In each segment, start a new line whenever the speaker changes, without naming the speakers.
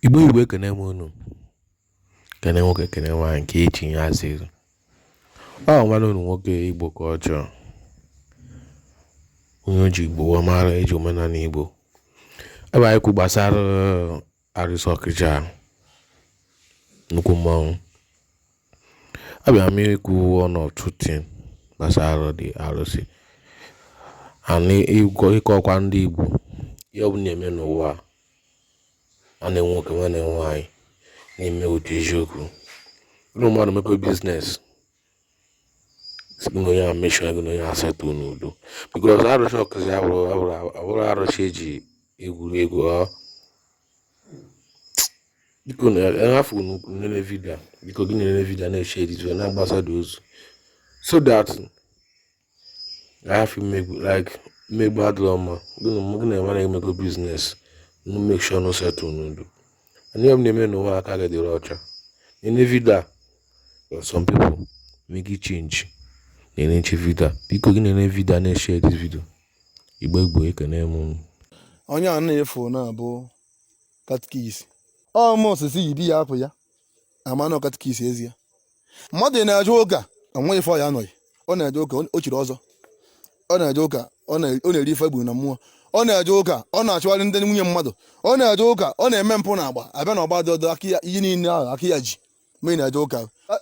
Igbo Igbo ekene m unu kene nwoke kene nwaanyị nke echi ya azịrị ọ nwanne unu nwoke Igbo ka ọ chọọ onye eji Igbo wee mara eji omenala Igbo ebe anyị kwu gbasara uh, arụsị Ọkịja nnukwu mmanwụ abịa m ikwu one or two things gbasara the arụsị and ịkọkwa ndị Igbo ihe ọ bụla na-eme n'ụwa a a na nwoke ma na nwaanyị na-eme ụdị eziokwu na mmadụ mekọ biznes gị na onye a mesịa gị na onye a settle n'udo because arụsị Ọkịja abụrọ arụsị eji egwuregwu ọ biko na ahafụ n'ukwu nlele vidio a. biko gị na-elele vidio a na-eshare na-agbasa the ozi so that a hafụ mmegbu like mmegbu adịrọ mma gị na onye na-emekọ biznes unu make sure unu settle n'udo and ihe ọbụla ị na-eme n'ụwa aka gị dịrị ọcha na-ene vidio a some people make it change nenechaa vidio a biko gị na-ene vidio a na-eshare this video Igbo Igbo ekene m unu onye a
na-efu na-abụ katkis ọmụ osisi yi di ya apụ ya ama na ọ katkis ezie mmadụ na-eje ụka onweghị ife ọ ya anọghị ọ na-eje ụka o chiri ọzọ ọ na-eje ụka ọ na- ọ na-eri ife e gburu na mmụọ ọ na-eje ụka ọ na-achụgharị ndị nwunye mmadụ ọ na-eje ụka ọ na-eme mpụ na agba abịa na ọgba dị ọdọ aka ya ihe niile ahụ aka ya ji ma ị na-eje ụka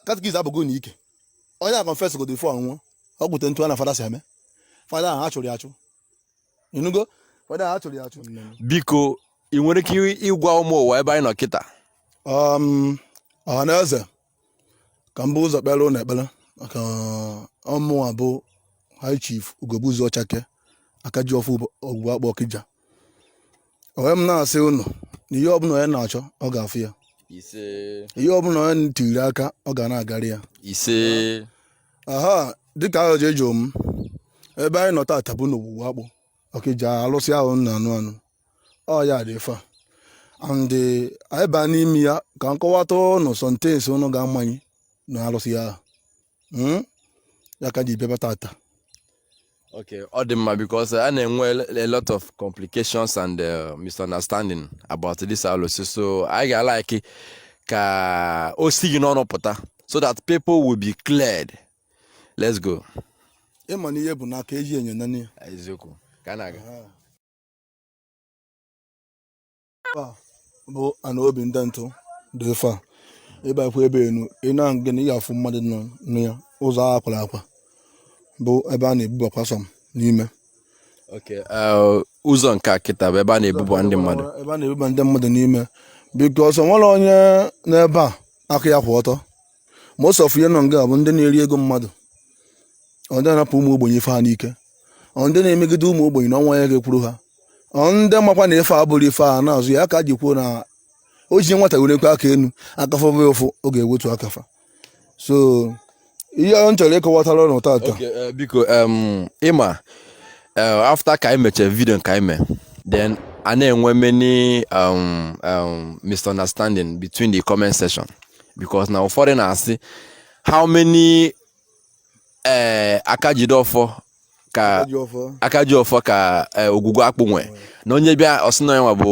katikis abụgo na ike onye a confess godo before ọ nwụọ ọ gwute ntu a na fada si eme fada ahụ a chụrụ ya achụ ịnụgo fada ahụ a chụrụ ya achụ
biko ị nwere ike ịgwa ụmụ ụwa ebe anyị nọ kịta um, ọha na
eze ka m bu ụzọ kpeere unu ekpere maka ọ mụwa bụ high chief Ugogbuzuo Ọchake aka ji ọfọ Ogwugwu Akpụ Ọkịja onwe m na-asị unu na ihe ọbụla onye na-achọ ọ ga-afụ ya ise ihe ọbụla onye tiri aka ọ ga na-agarị ya ise aha dịka ajụjụ ị jụ m ebe anyị nọ tata bụ n'Ogwugwu Akpụ Ọkịja alụsị ahụ unu na-anụ anụ ọ ya dị ifa and eh, anyị baa n'ime ya ka m kọwata ụnụ some things ụnụ ga-amanye na alụsị ahụ hmm? ya ka e ji bịa ebe a
tata okay ọ dị mma because a na-enwe a lot of complications and uh, misunderstanding about this alụsị so anyị ga-alike ka o si gị n'ọnụ pụta so that people will be cleared let's go ịma na ihe
bụ n'aka eji enyo ene ya eziokwu ka na-aga bụ ana obi ndị ntụ bụ ife a ị bakwa ebe enu ị na-aga na ị ga-afụ mmadụ nọ na ya ụzọ a akwara akwa bụ ebe a na-ebubakwa some n'ime
Okay, uh, ụzọ nke a kịta bụ ebe a na-ebuba ndị mmadụ ebe a na-ebuba ndị mmadụ
n'ime because o nwere onye n'ebe a aka ya kwụ ọtọ most of ihe nọ nga bụ ndị na-eri ego mmadụ ọ ndị na-anapụ ụmụ ogbenye ife ha n'ike ọ ndị na-emegide ụmụ ogbenye na o nwe onye ga-ekwuru ha ọ ndị makwa na ife a bụrụ ife a na-azụ ya ka e ji kwuo na o ji nwata were ekwe aka enu aka fụba ụfụ ọ ga-ewetu aka fa so ihe m chọrọ ịkọwatara ụnụ tata Okay, eh, biko
em, ị ma eh, after ka anyị mechara vidio nke anyị mee then a na-enwe many um, um, misunderstanding between the comment section because na ụfọdụ na-asị how many ee eh, aka jide ọfọ ka aka ji ọfọ ka eh, ogwugwu akpụ nwe na onye bịa ọ sị na ya nwa bụ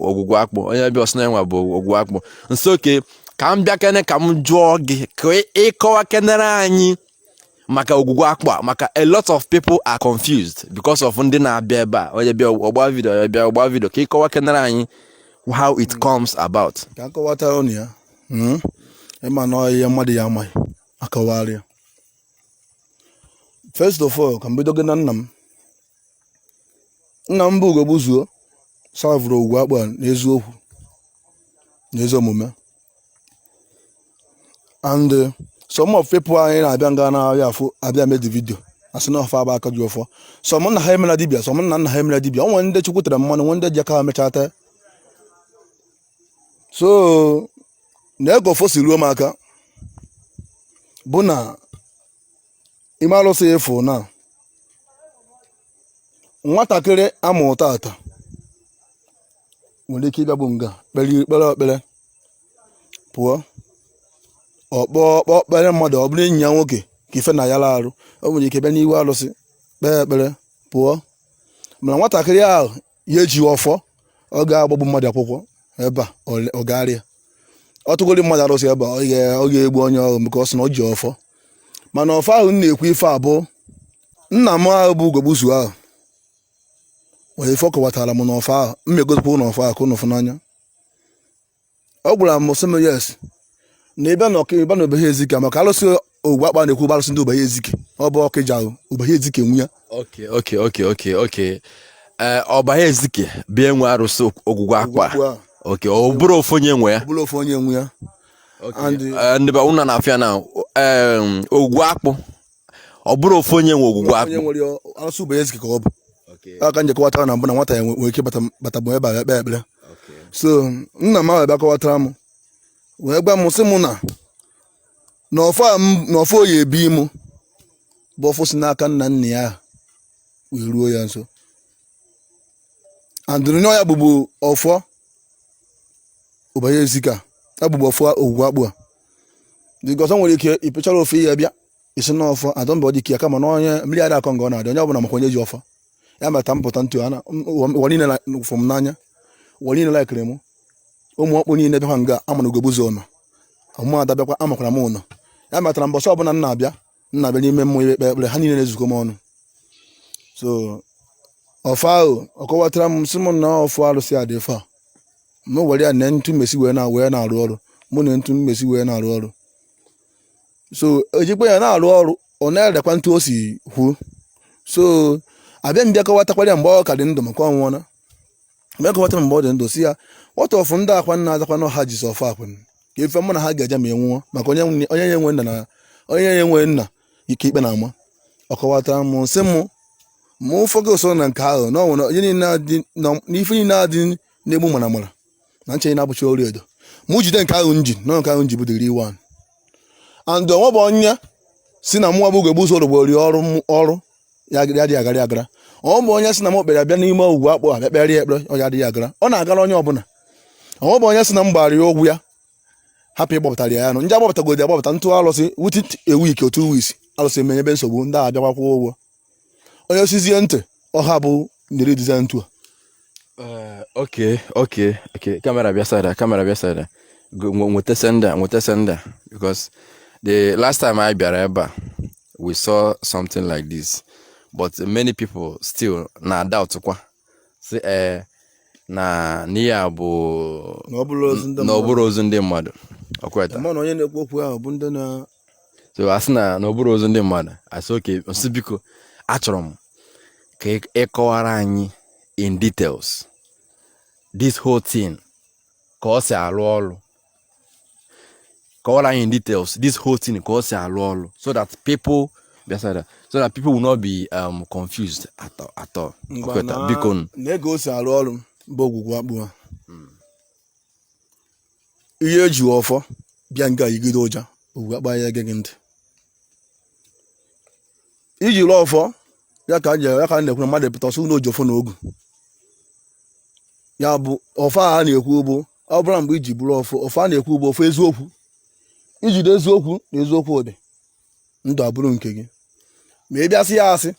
ogwugwu akpụ onye bịa ọ sị na ya nwa bụ ogwugwu akpụ so okay ka m bịakene ka m jụọ gị ka ị kọwakenere anyị maka ogwugwu akpụ a maka a lot of people are confused because of ndị na-abịa ebe a onye bịa ọ gba vidio onye bịa ọ gba vidio ka ị kọwakenere anyị how it hmm. comes about ka a kọwatara ụnụ ya
hmm? ị ma na ọ ihe mmadụ na-amaghị a kọwara ya first of all ka m bido gị na nna m nna m bụ ugogbuzuo serve-ụrụ ogwugwu akpụ a n'eziokwu n'ezi omume and uh, some of people anyị na-abịa nga na-abịa afụ a bịa mee the video a sị na ọ fa bụ aka ji ọfọ some nna ha emela dibia some nna nna ha emela dibia o nwere ndị chukwu tere mmanụ nwee ndị ji aka ha mechaa tee so na ka ọfọ si ruo m aka bụ na ime alụsị ị fụ na nwatakịrị a mụụ tata nwere ike ịbịagbu nga kpere kpere ekpere pụọ ọkpọ ọkpọ kpere mmadụ ọ bụrụ enyi ya nwoke ka ife na ya ara arụ o nwere ike bịa n'ihu alụsị kpee ekpere pụọ mana nwatakịrị ahụ ya eji ọfọ ọ ga-agbagbu mmadụ akwụkwọ ebe a ọ- ọ gagharịa ọ tụgoro mmadụ arụsị ebe a ọ ga- ọ ga-egbu onye ahụ because na ọ ji ọfọ mana ọfọ ahụ m na-ekwu ife a bụ nna m ahụ bụ ugogbuzuo ahụ nwee ife ọ kọwatara m n'ọfọ ahụ m megozikwa n'ọfọ ahụ ka ụnụ fụ n'anya ọ gwara m sị m yes na ị bịa na ọka ị bịa na ubahu ezike maka alụsị ogwugwu akpụ a na-ekwu bụ alụsị ndị ubahu ezike ọ bụ ọkịja ubahu ezike nwe ya okay okay okay okay
okay ee ubahu ezike bụ ihe nwe arụsị ogwugwu akpụ a, okay ọ bụrọ ofu onye nwe ya ọ bụrọ ofu onye nwe ya And- Ee, ndị be ụnụ na-afịa na em, ogwugwu akpụ ọ bụrụ ofu onye nwe ogwugwu akpụ onye nwere alụsị Ubahu
Ezike ka ọ bụ aka m ji kọwatara na mbụ na nwata ya nwe- nwere ike bata bata bụ ebe a ekpe ekpere so nna m ahụ bịa kọwatara m wee gwa m sị m na na ọfọ a m- na ọfọ oyi ebi m bụ ọfọ si n'aka nna nna ya ahụ wee ruo ya so andụrụ nye ya bụbu ọfọ Ubahu Ezike ya bụbu ọfọ ogwugwu akpụ a dịka ọzọ nwere ike ịpịchara ọfọ ya bịa ịsị na ọfọ adọ mba ọ dị ka ya kama na onye mmiri ada akọ nga ọ na-adị onye ọbụla makwa onye ji ọfọ ya mata m pụta ntu a na ụwa niile na- fụ m n'anya ụwa niile laikiri m ụmụ ọkpụ niile bịakwa nga a ma na ugogbuzuo nọ ụmụ ada bịakwa amakwara m ụnọ ya matara mbọsị ọbụla m na-abịa m na-abịa n'ime mmụọ ikpe ekpere ha niile na-ezukọ m ọnụ so ọfọ ahụ ọ kọwatara m sị m na ọfọ arụsị a dị fa m were ya na ntu m esi wee na wee na-arụ ọrụ mụ na ntu m esi wee na-arụ ọrụ so ejikwa ya na-arụ ọrụ ọ na-erekwa ntu o si kwuo so abịa m bịa kọwatakwara ya mgbe ọ ka dị ndụ maka ọ nwụọna m kọwatara mgbe ọ dị ndụ si ya what of ndị akwa nna azakwa na ọha jizi ọfọ akwa nna ka ife mụ na ha ga-eje ma ị nwụọ maka onye nwe- onye ya enwe nna na onye ya enwe nna ka ikpe na-ama ọ kọwatara m sị mụ ma ụfọdụ so na nke ahụ na ọ nwere onye niile adị na- na ife niile adị na-egbu mara mara na nche na-abụcha ọla edo mụ jide nke ahụ m ji na nke ahụ m ji bụ the real one and o nwebe onye sị na mụwa bụ ugogbuzuo orogbo rie ọrụ m- ọrụ ya adịghị adịghị agara ya agara o nwebe onye sị na m kpọrọ ya bịa n'ime ogwugwu akpụ abịa kpeere ya ekpere ọ ya adịghị agara ọ na-agara onye ọbụla o nwebe onye sị na m gbara ya ụgwọ ya hapụ ịgbapụtara ya anụ ndị agbapụtagodi agbapụta ntụ alụsị within a week or two weeks alụsị emenyebe nsogbu ndị a abịakwa kwụọ ụgwọ onye sizie ntị ọha bụ ndịrị dịza ntu a eh,
ok ok ok kamera bịa side a kamera bịa side a nweta senda nweta senda because the last time anyị bịara ebe a we saw something like this but many people still na doubt kwa sị ee eh, na ihe a bụ na ọ bụrụ ozu ndị mmadụ ọkweta mana onye na-ekwu okwu
ahụ bụ ndị na so a sị
na na ọ bụrụ ozu ndị mmadụ asị okay m sị biko achọrọ m ka ị- ị kọwara anyị in details this whole thing ka ọ si alụ ọlụ kọwara anyị in details this whole thing ka ọ si alụ ọlụ so that people bịasara so that people will not be um, confused at all, at all. Ngwa Ọkweta, na- biko nụ. na ego o si arụ
ọrụ bụ ogwugwu akpụ ha ihe eji ọfọ bịa nga yigide ụja ogwugwu akpụ ya ege gị ntị i jiri ọfọ ya ka m ji ya ka m na-ekwu na mmadụ pụta ọ sị na o ji ọfọ na ogu ya bụ ọfọ a na-ekwu bụ ọ bụla mgbe iji bụrụ ọfọ ọfọ a na-ekwu bụ ọfọ eziokwu i jide eziokwu na eziokwu ụdị ndụ abụrụ nke gị ma ị bịa sị ya asị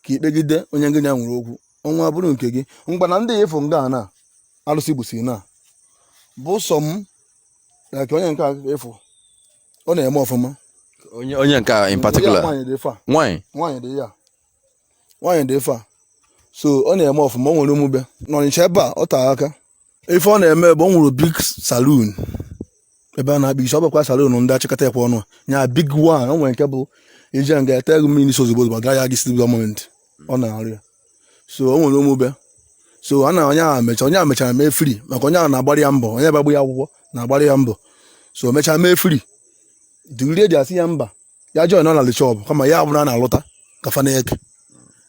ka i kpegide onye ngị na ya nwere okwu ọnwụ abụrụ nke gị ngwa na ndị ya ịfụ nga na arụsị gbusi na bụ sọ m na ka onye nke a ị fụ ọ na-eme ọfụma onye onye
nke a in particular nwaanyị dị ife a nwanyị nwaanyị dị ya
nwaanyị dị ife a so ọ na-eme ọfụma o nwere omube n'ọnịcha ebe a ọ taa aka ife ọ na-eme bụ o nwere big saloon ebe a na-akpa isi ọ bụkwa saloon ndị achịkọta ekwe ọnụ nya big one o nwere nke bụ i je nga e tee gị mmiri n'isi ozugbo ozugbo agaghị agị site gọọment ọ na-arụ ya so o nwere ụmụbe so a na onye ahụ mecha onye ahụ mechara mee free maka onye ahụ na-agbara ya mbọ onye bagbu ya akwụkwọ na-agbara ya mbọ so o mechaa mee free the lady asị ya mba ya join ọ na the shop kama ya abụrụ a na-alụta ka fa na-eke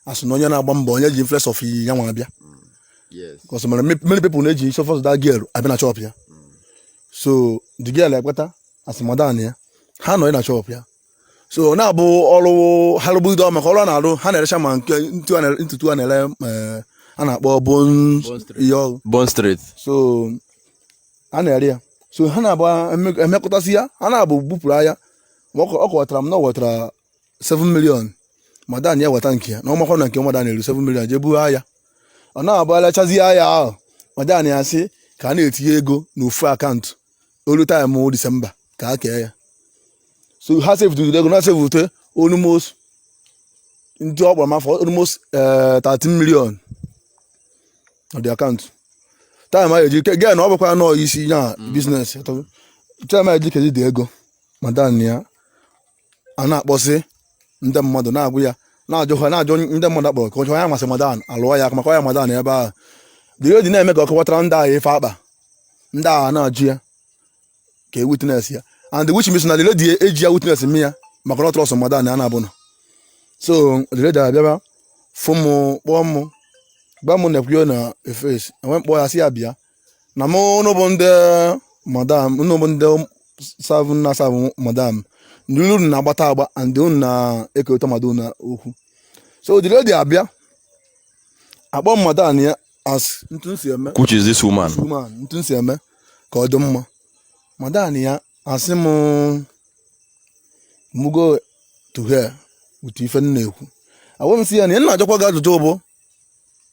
as na onye na-agba mbọ onye ji influence of iyi ya nwa abịa yes because many many people na-eji isi of that girl abịa na shop ya so the girl ekweta asị madam ya ha nọ na shop ya so ọ na-abụ ọrụ ha rụbudo maka ọrụ a na-arụ ha na-erecha ma nke ntu a na- ntutu a na-ere eh, a na-akpọ bon bone straight. ihe ọrụ bone straight so a na-ere ya so ha na-abụ eme- emekọtasị ya ha na-abụ bupụrụ ahịa ọ kọwatara m na ọ wetara 7 million madam ya weta nke ya na ọ makwa na nke madam eru 7 million jee buo ahịa ọ na-abụ e lechazie ahịa ahụ madam ya sị ka a na-etinye ego n'ofu account o ru time December ka a kee ya so ha sevutụrụ ego na sevute almost ndị ọ kpọrọ m afọ almost eh, 13 million the account time a ya-eji ke gee na ọ bụkwa nọọ isi ya business time a ya-eji kezi the ego madam ya a na-akpọsị ndị mmadụ na-agwa ya na-ajụ ha na-ajụ ndị mmadụ akpọrọ ka ọchọ ya masị madam alụọ ya aka maka ya madam ebe ahụ the lady na-eme ka ọ kọwatara ndị ahụ ife akpa ndị ahụ na-ajụ ya ka e witness ya and which means na the lady eji ya witness me ya maka na ọ trust madam ya na-abụ nọ so the lady abịaba fụ mụ kpọọ mụ gba mụ na-ekwuo na efes enwe mkpọ ya si ya bịa na mụ ụnụ bụ ndị madam ụnụ bụ ndị serve na-serve madam ndị unu na-agbata agba and unu na-ekerịta mmadụ na okwu so the lady abịa akpọ madam ya as etu e si eme Which is this woman?
woman etu e si eme
ka ọ dị mma madam ya asị m mụ go to hell with ife m na-ekwu agwa m sị ya na m na-ajụkwa gị ajụjụ ọ bụ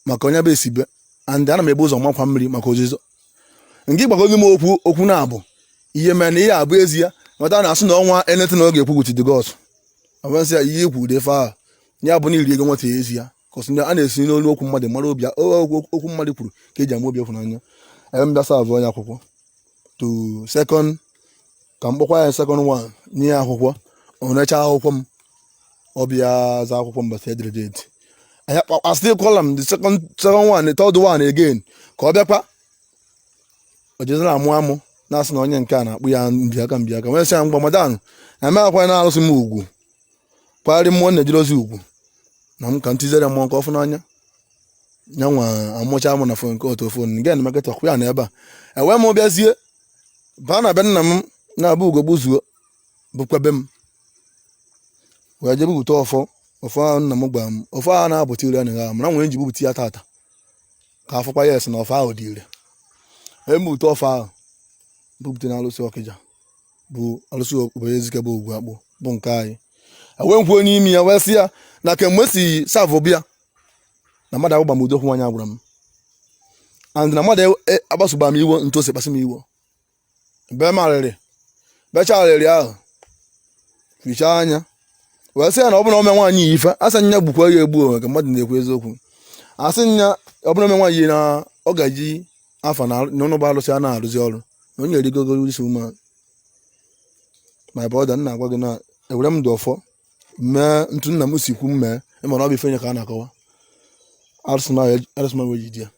maka onye bụ esibe and ana m ebu ụzọ makwa mmiri maka ozizo nke ịgbagozi m okwu okwu na-abụ ihe mere na ihe a bụ ezi ya mata na asị na o nwee anything ọ ga-ekwu with the gods agwa m sị ya ihe ikwu ụdị ife ahụ ya bụ na i ri ego nwata a ezi ya kọsị ndị a na-esi n'olu okwu mmadụ mara obi okwu mmadụ kwuru ka eji ama obi ịhụnanya ebe m bịa serve ya akwụkwọ to second ka m kpọkwa ya second one nye ya akwụkwọ o nechaa akwụkwọ m ọ bịa za akwụkwọ mbọchị edere date anya kpọkwa still call am the second second one the third one again ka ọ bịakwa o jezira amụ amụ na-asị na onye nke a na-akpụ ya mbịaka mbịaka wee sị ya mgba madanụ na-eme akwa n'arụsị m ugwu kwagharị mmụọ na-ejere ozi ugwu na m ka m tizere mmụọ nke ọ fụ n'anya ya nwa amụcha mụ na fon nke otu fon nke na maketa ọkụ ya na ebe a ewee m bịazie baa na be nna m na-abụ ugo gbuzuo bụkwa be m wee jebe bute ọfọ ọfọ ahụ nna m gwara m ọfọ ahụ na-abụta ire anaghị ahụ mana m wee ji bupụta ya tata ka afụkwa ya esi na ọfọ ahụ dị ire ebe m bute ọfọ ahụ bupụta na alụsị ọkịja bụ alụsị obodo ezike bụ ogwu akpụ bụ nke anyị wee nkwuo n'ime ya wee sị ya na kemgbe m si serve bịa na mmadụ agwaba m ụdị okwu nwaanyị a gwara m and na mmadụ e, e, akpasuba m iwo ntu o si kpasị m iwo be m arịrị becha arịrị ahụ fichaa anya wee sị ya na ọ bụrụ na o mee nwaanyị yi ife asị nya gbukwa ya egbu ka mmadụ na-ekwu eziokwu asị nya ọ bụrụ na o mee nwaanyị na ọ ga-eji afụ na na ụnụ bụ alụsị a na-arụzi ọrụ na onye erigogo this woman my brother na-agwa gị na ewere m ndụ ọfọ mee ntu nna m si kwu m mee ịma na ọ bụ ife nye ka a na-akọwa arụsị na arụsị m wee jide ya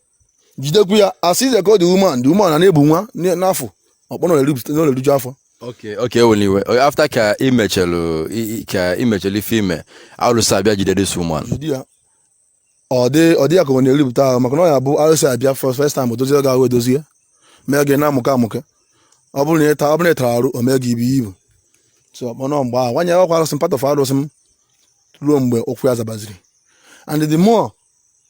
jidekwu ya asị ize ka ọ the woman the woman na-ebu nwa n- n'afọ ọkpọ na o riju afọ okay okay ewela iwe
O- after ka ị mechelụ i- i- ka ị mechelụ ife i me alụsị abịa jide this woman jide ya
ọ dị ọ dị ya ka ọ na-eripụta ahụ maka na ọ ya bụ arụsị abịa fọ- first time o dozie gị ahụ edozi ya mee gị na-amụke amụke ọ bụrụ na ị ta- ọ bụrụ na ị tara arụ o mee gị ibu ibu so mana ọ mgbe ahụ nwanyị ọkwa arụsị m part of arụsị m ruo mgbe ụkwụ ya zabaziri and the more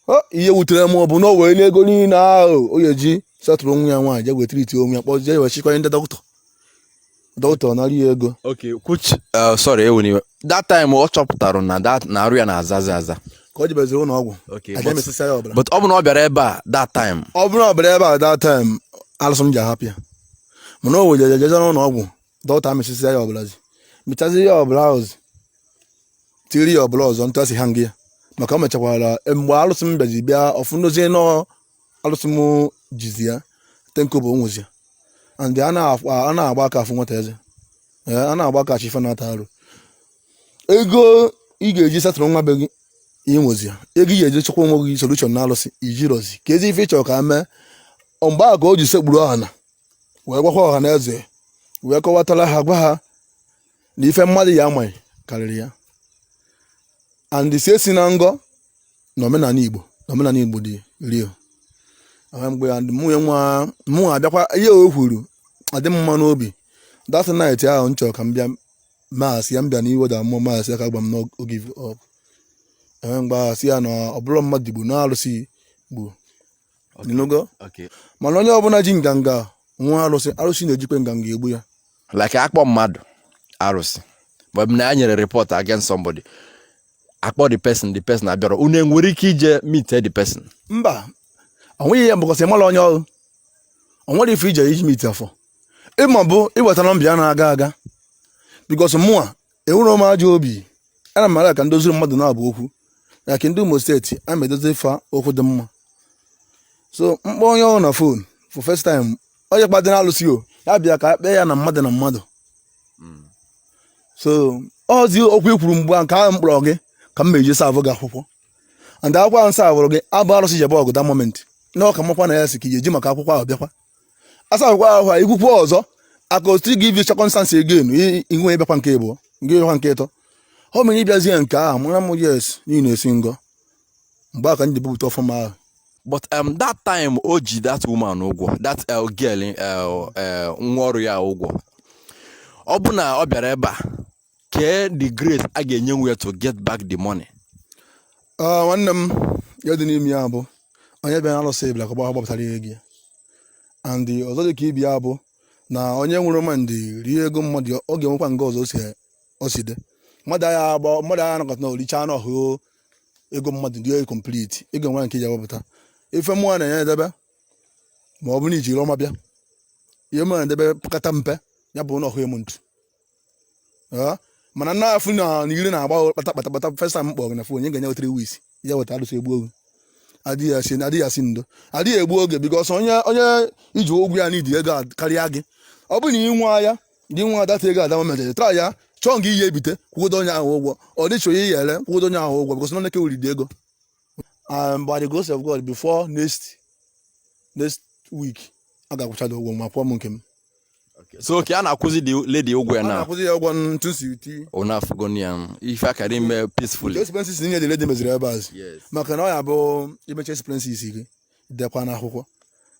ọ, ihe wutere m bụ na o wee n'ego niile ahụ o ga-eji settle onwe ya nwaanyị je wee treat onwe ya kpọzie ya wee chịkwa ndị dọkịta dọkịta ọ nara ya ego okay which
uh, sorry ewena iwe that time ọ chọpụtara na that na arụ ya na-azazi aza ka ọ jebeziri ụlọ
ọgwụ Okay, aja but- amịsịsịa ya ọbara but
ọ bụ na ọ bịara ebe a that time ọ bụrụ na ọ bịara ebe a that time
alụsị m ji ahapụ ya mana o wee jere jeje n'ụlọ ọgwụ dọkịta mịsịsịa ya ọbara zi mịchazi ya ọbara ahụ zi tiri ya ọbara ọzọ ntụ asị ha nga ya maka o mechakwara mgbe alụsị m bịazi bịa ọfụndozie nọ alụsị m jizi ya ten kobo o nwezi ya and a na-agba aka afụ nwata eze a na-agba aka achị ife na-ata arụ ego ị ga-eji settle nwa be gị inwezi ya ego ị ga-eji chekwa onwe gị solution na alụsị ijirozi ka ezi ife ị chọrọ ka mee mgbe a ka o ji sekpuru ọha na wee gwakwa ọha na eze wee kọwatara ha gwa ha na ife mmadụ ya amaghị karịrị ya and si esi na ngọ na omenala igbo na omenala igbo dị real Aha mgbe ya ndị mụnye nwa mụ abịakwa ihe o kwuru adị m mma n'obi that night ahụ m chọrọ ka m bịa mas ya m bịa n'iwe da mmụọ mas ya ka gwa m na o give up enwe mgbe ahụ sị ya na ọ bụrụ mmadụ igbo na arụsị igbo ịnụgo Okay. mana onye ọbụla ji nganga nwa arụsị arụsị na-ejikwe nganga egbu ya like
akpọ mmadụ arụsị but na enyere report against somebody akpọ the person the person abịara unu enwere ike
ije
meet
the
person mba ọ nweghị
ihe
because ị mara
onye ọ
bụ o
nwerọ ife ị je eji meet ya ife ịma bụ iweta nọmba ya na-aga aga because mụa enwerọ m ajọ obi ana m ara ka m doziri mmadụ naabọ okwu na ka ndị Imo steeti a ma edozi fa okwu dị mma so m kpọọ onye ọ bụ na phone for first time onye kpadị na alụsị o ya bịa ka kpee ya na mmadụ na mmadụ so ọzi okwu ikwuru mgbe a nke ahụ m kpọrọ gị ka m je eji serve gị akwụkwọ and akwụkwọ ahụ savụrụ gị abụ arụsị jebe ọgụ the moment na ọka makwa na ya si ka iji maka akwụkwọ ahụ bịakwa asakwa ahụ ikwukwu ọzọ aka otu gị ivi circumstance again ihu ebekwa nke ịbụọ nke ịbịakwa nke ịtọ ọ mere ịbịazie nke ahụ mara m yes na ị na-esi ngọ mgbe a ka ndị bupụta ọfụma ahụ but um,
that time o ji that woman ụgwọ that uh, girl uh, uh, nwa ọrụ ya ụgwọ ọ bụ na ọ bịara ebe a kee the grace a ga-enye nwe to get back the money
ah, nwanne m ihe dị n'ime ya bụ onye bịa na alụsị ebila ka ọ gbapụtara ihe gị and ọzọ dị ka ibi ya bụ na onye nwere mind rie ego mmadụ ọ ga-enwekwa nke ọzọ o si dị mmadụ agha agba mmadụ agha anakọta na oricha anụ ọhụ ego mmadụ dị complete ego nwere ike iji agbapụta ife mụọ na-enye edebe ma ọ bụ na ijiri ọma bịa ihe mụ na-edebe pekata mpe ya bụ na ọhụ emu ntu Ee, mana nna afụ na na ire na-agba kpata kpata kpata first time m kpọrọ gị na phone enye gị enye three weeks ya weta alụsị egbu oge adịghị asị adịghị asị ndo adịghị egbu oge because onye onye iji ụgwọ ya need ego a karịa gị ọ bụrụ na ị nwa ya gị nwa that ego at that moment a ya chọọ nke ị je ebite kwụdo onye ahụ ụgwọ or ị chọọ ihe ị ya-ere kwụdo onye ahụ ụgwọ because nne kewuri dị ego um, by the grace of god before next next week a ga-akwụcha gị ụgwọ ma kwụọ m nke m so
okay a na-akwụzi the lady ụgwọ ya na akwụzi ya ụgwọ ntu
si uti ụna afụgo ya
ife akara ime peacefully expenses niile the lady
meziri ebe azụ maka na ọ ya-abụ imecha expenses gị dekwa na akwụkwọ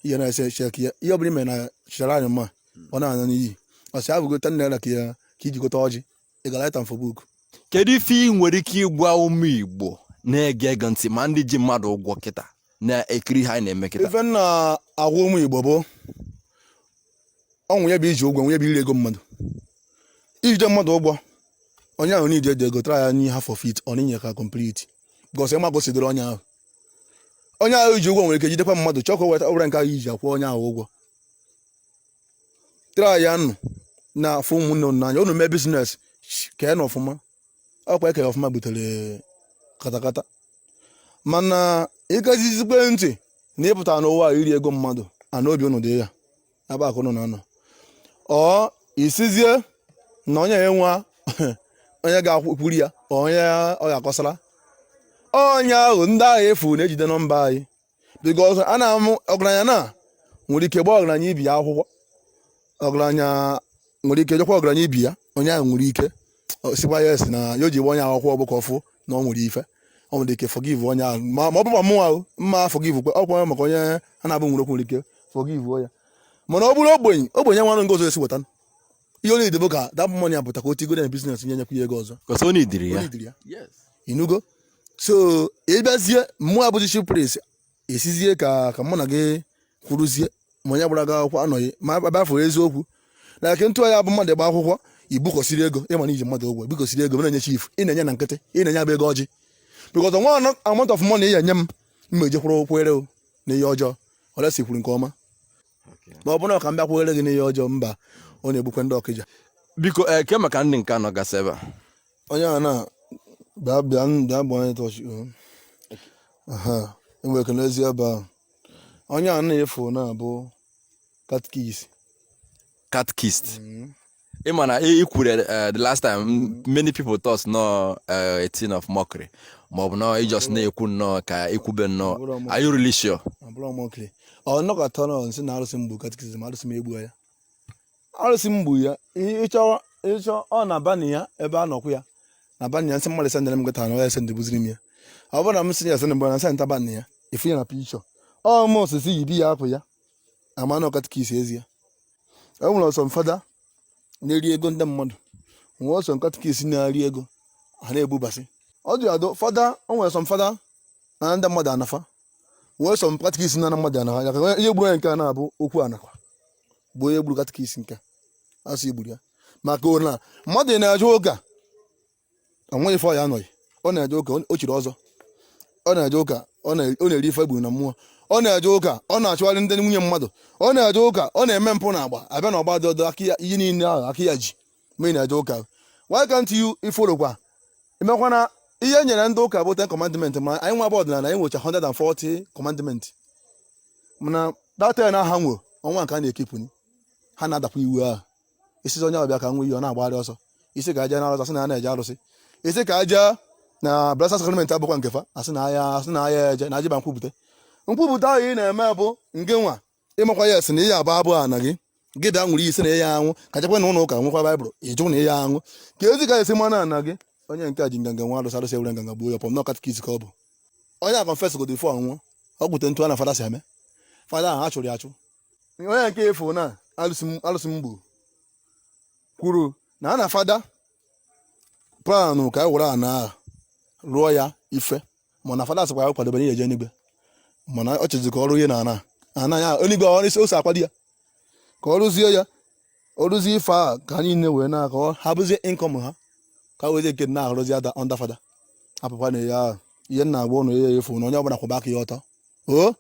ihe na-ese check ya ihe ọ bụla ime na chịchara anyị mma hmm. ọ na-anya n'iyi ọsị abụgo ten naira ka ya ka iji gote ọjị ị ga-write am for book kedu ife
ị nwere ike ịgwa ụmụ igbo na-ege gị ntị ma ndị ji mmadụ ụgwọ kịta na-ekiri ihe a na-eme kịta ife m na-agwa
ụmụ igbo bụ o nwee ya bụ iji ụgwọ nwee ya bụ iri ego mmadụ ijide mmadụ ụgwọ onye ahụ i jide ego try ya nye half of it ọ na-enye ka complete because ịma gosidoro onye ahụ onye ahụ i ji ụgwọ nwere ike jidekwa mmadụ chọọ ka o weta ọbụla nke ahụ iji akwụ onye ahụ ụgwọ try ya nụ na-afụ ụmụnne unu n'anya unu mee business keenụ ọfụma ọkwa eke ọfụma butere katakata mana ị kasisikwe ntị na ịpụta n'ụwa a iri ego mmadụ and obi unu dị ya ebe akụ unu na-anọ or ị sizie na onye enwe onye ga-ekwuru ya onye ọ ga-akọsara onye ahụ ndị agha efu na-ejide na mba anyị because a na-amụ ọgaranya na nwere ike gbaa ọgaranya ibe ya akwụkwọ ọgaranya nwere ike jikwa ọgaranya ibe ya onye ahụ nwere ike ọ sikwa ya asị na ihe o ji gba onye ahụ akwụkwọ bụ ka ọ fụ na ọ nwere ife ọ nwere ike forgive onye ahụ ma ma ọ bụkwa mụnwa o, m ma forgive kwa ọ kwere maka onye a na-abụ nwere okwu nwere ike forgive ya mana ọ bụrụ ogbenye ogbenye enwenụ nke ọzọ e si weta ihe onye idebo ka that money apụta ka o tigo na business nye nyekwu ya ego ọzọ Because only diri ya. Only diri
ya. Yes.
inugo so ị bịazie mụwa bụzi chief priest a sịzie ka ka mụ na gị kwuruzie ma onye gbara gị akwụkwọ anọghị ma abịa fụrụ eziokwu na eke ntụ ya bụ mmadụ gba akwụkwọ ibukọsiri ego ị ma na i ji mmadụ ụgwọ ibukọsiri ego na-enye chief ị na-enye na nkịtị ị na-enye ya bụ ego ọjị because no amount of money ị nye m m ma ejekwara kwere na ihe ọjọọ unless i kwuru nke ọma ma ọ bụ na ka m bịa kwere gị n'ihe ọjọọ mba ọ na-egbukwe ndị ọkịja biko kee eh,
maka ndị nke nọgasị ebe a onye a na
bịa bịa bịa bụ onye chọọchị enwere ike n'ezi ebe ahụ onye a na-efu na-abụ catechist
catechist mm-hmm. ị ma na ị kwuru eh, the last time m- many people thought na ọ eh, a thing of mockery maọbụ na ị just na-ekwu nnọọ ka ikwube nnọọ Bụrụ ọmụ- are you really sure ọ bụrọ mockery ọ
nnọkọta nọ nsị na arụsị m gbu catechist arụsị m egbuo ya arụsị m gbu ya ị- ịchọ ịchọ ọ na bani ya ebe a nọkwu ya na bani ya nsị mmadụ sendịrị m gịta na ọ ya sendị buziri m ya ọ bụrụ na m sị ya sendị mgbe na nsị nta bani ya ị fụ ya na picture ọmụ osisi yibi ya apụ ya ama na ọ catechist ezie e nwere some fada na-eri ego ndị mmadụ nwee some catechist na-eri ego a na-egbubasị ọ dị adụ fada o nwere some fada na ndị mmadụ anafa nwee some catechist na mmadụ anafa ya ka ihe gburu ya nke a na-abụ okwu anakwa bụ onye gburu catechist nke a sị e gburu ya maka na mmadụ na-eje ụka onweghị ife ọ ya anọghị ọ na-eje ụka o chiri ọzọ ọ na-eje ụka ọ na-eri ife e gburu na mmụọ ọ na-eje ụka ọ na-achụgharị ndị nwunye mmadụ ọ na-eje ụka ọ na-eme mpụ na agba abịa na ọgba dị ọdọ ihe niile ahụ aka ya ji ma ị na-eje ụka why can't you follow kwa emekwana ihe e nyere ndị ụka bụ ten commandment ma anyị nwa bụ ọdịnala anyị nwecha 140 commandment mana that ten ha nwe onwe nke ha na-ekeepụ ha na-adakwa iwu ahụ ị sịzi onye ọ bịa ka ṅụọ iyi ọ na-agbagharị ọsọ ị sị ka e jee na arụsị asị na a na-eje arụsị ị sị ka e jee na blessed sacrament abụkwa nke fa asị na aya asị na aya eje na e jebe nkwupụta nkwupụta ahụ ị na-eme bụ nke nwa ị makwa ya a sị na ihe abụ abụ ana gị gị bịa ṅụrụ ị sị na ị ya aṅụ ka e jekwa na ụlọ ụka ṅụkwa baịbụl ị jụ na ị ya aṅụ keezi ka e si ma na ana gị onye nke a ji nganga ṅụọ arụsị arụsị ewere nganga gbuo ya pọm na katikis ka ọ bụ onye a confess godo before ọ nwụọ o kwute etu a na fada si eme fada ahụ a chụrụ ya achụ onye nke afụ na alụsị m- alụsị m gburu kwuru na a na fada planụ ka e were ana ahụ rụọ ya ife mana fada sịkwa ya kwadobere ya eje n'igwe mana ọ chọzi ka ọ rụọ ihe na ana ana ya enigwe ọ isi ose akwado ya ka ọ rụzie ya ọ rụzie ife a ka anyị niile wee na-akọ ha bụzie income ha ka wezie nke na-arụzi ada under fada apụkwa na ya ihe m na-agwa ụnụ ya efu na onye ọbụla kwụba aka ya ọtọ o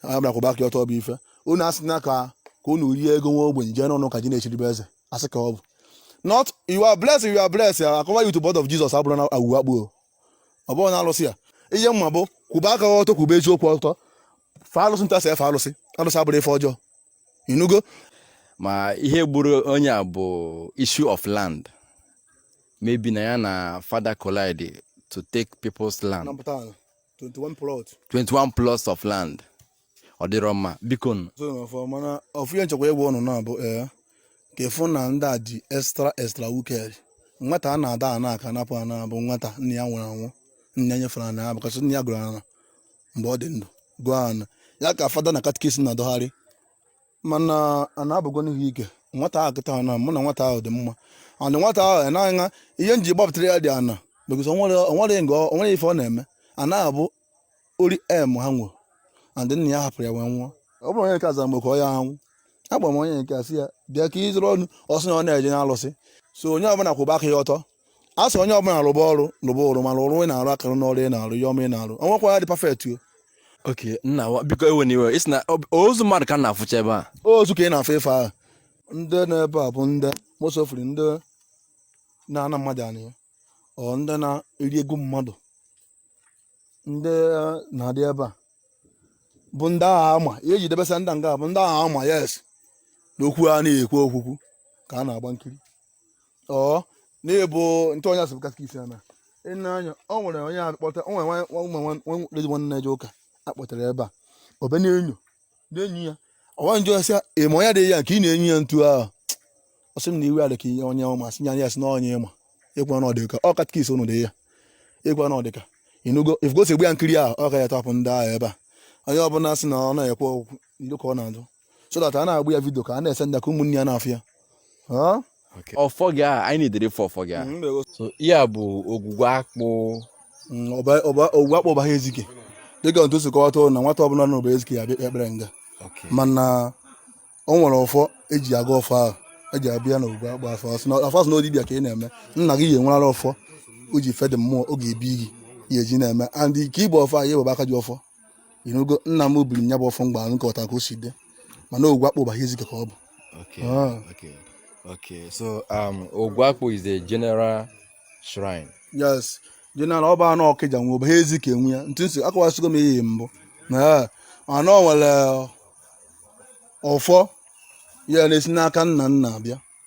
onye ọbụla kwụba aka ya ọtọ bụ ife unu asị na ka ka unu rie ego nwa ogbenye jee n'ụlọ ụka ji na-echiribe eze asị ka ọ bụ not you are blessed you are blessed I cover you with blood of Jesus abụrụ na awuwe akpụ ọ bụrụ na alụsị ya ihe m ma bụ kwụba aka ọtọ kwụba eziokwu ọtọ fa alụsị ntasị efe alụsị alụsị abụrụ ife ọjọọ ị nụgo
ma ihe gburu onye a bụ issue of land maybe na ya na father collide to take people's land napụta ala 21 plot 21 plots of land ọ dịrọ mma biko nụ. so na ọfọ
mana ofu ihe m chọkwa ịgwa ụnụ na-abụ ee ka ị fụ na ndị a dị extra extra wicked nwata a na-adọ ana ka a napụ ana bụ nwata nna ya nwụrụ anwụ nna ya nyefere ana ya because nna ya goro ana mgbe ọ dị ndụ goo ana ya ka fada na katikisi na-adọgharị mana a na-abụgo n'ihu ike nwata ahụ kịta na mụ na nwata ahụ dị mma ana nwata ahụ anaghị ihe m ji gbapụtara ya dị ana because onwere nga onwere ife ọ na-eme a na-abụ ori em ha nwụrụ and nna ya hapụrụ ya wee nwụọ ọ bụrụ onye nke azara mgbe ka ọ ya anwụ agba m onye nke asị ya bịa ka ị zara ọnụ ọ sị na ọ na-eje n'alụsị so onye ọbụla kwụba aka ya ọtọ a sị onye ọbụla rụba ọrụ rụba ọrụ mana ọrụ ị na-arụ akara n'ọrụ ị na-arụ ya ọma ị na-arụ onwekwa ihe dị perfect o ok nna
wa biko ewena iwe ị sị na ọ- ozu mmadụ ka m na-afụcha ebe a ozu ka ị na-afụ
ife ahụ ndị nọ ebe a bụ ndị mosofiri ndị na-ana mmadụ anị or ndị na-eri ego mmadụ ndị na-adị ebe a bụ ndị agha ama ihe e ji debesa ndị nga bụ ndị agha ama yes na okwu a na-ekwu okwukwu ka a na-agba nkiri ọ na-ebu ntụ onye a sị bụ katkis ya na ịna anya o nwere onye akpọta o nwere nwa- nwa- nwa- nwa- nwa- lady nwa na-eje ụka a kpọtara ebe a obe na-enyo na-enyu ya ọwa njọ sị ịma onye adịghị ya nke ị na-enyu ya ntu ahụ ọ sị m na iwe adị ka ihe onye ọma sị ya ya sị na onye ịma ịkwa na ọdịka ọ katkis ụnụ dị ya ịkwa na ọdịka ịnụgo ifgosi egbu ya nkiri ahụ ọ katapụ ndị ahụ ebe a onye ọbụla sị na ọ na-ekwe okwu ilu ka ọ na-ajụ so that a na-agba ya vidio ka a na-ese ndị ka ụmụnne ya na-afụ ya
ọfọ gị a anyị na-edere ife ọfọ gị a mm, so ihe a bụ ogwugwu akpụ mm,
ogwugwu akpụ Ụbaha Ezike dịka ntu si kọwata na nwata ọbụla na Ụbaha Ezike ya bịa ekpere nga mana o nwere ọfọ eji aga ọfọ ahụ eji abịa na ogwugwu akpụ ọfọ a sị na ọ dibịa ka ị na-eme nna gị ya enwerala ọfọ o ji fee ndị mmụọ oge ebi gị ya eji na-eme and ka i bu ọfọ a ya ewebe aka ji ọfọ inugo nna m biri nya bụ ọfọ mgba nke ọta ka o si dị mana ogwugwu akpụ Ụbaha Ezike ka ọ bụ okay ah. okay
okay so um ogwugwu akpụ is a general shrine
yes general ọ bụ ana Ọkịja nwe Ụbaha Ezike nwe ya ntụ nsị akọwasịgo m ihe mbụ mana o nwere ọfọ ya na-esi n'aka nna nna abịa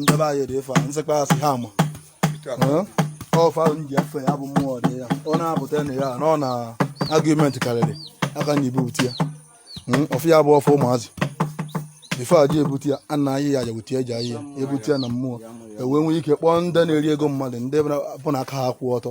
ndebe anyị dị ife a nsịkwa asị ha ma ọfọ a m ji efe ya bụ mmụọ dị ya ọ na-apụta na ya na ọ na argument karịrị aka a na-ebupụta ya hmm, ọfọ ya bụ ọfọ amazị ife e ji ebute ya a na-ayị ya jewute eji ayị ya ebute ya na mmụọ ewee nwee ike kpọọ ndị na-eri ego mmadụ ndị bụ na aka ha kwụ ọtọ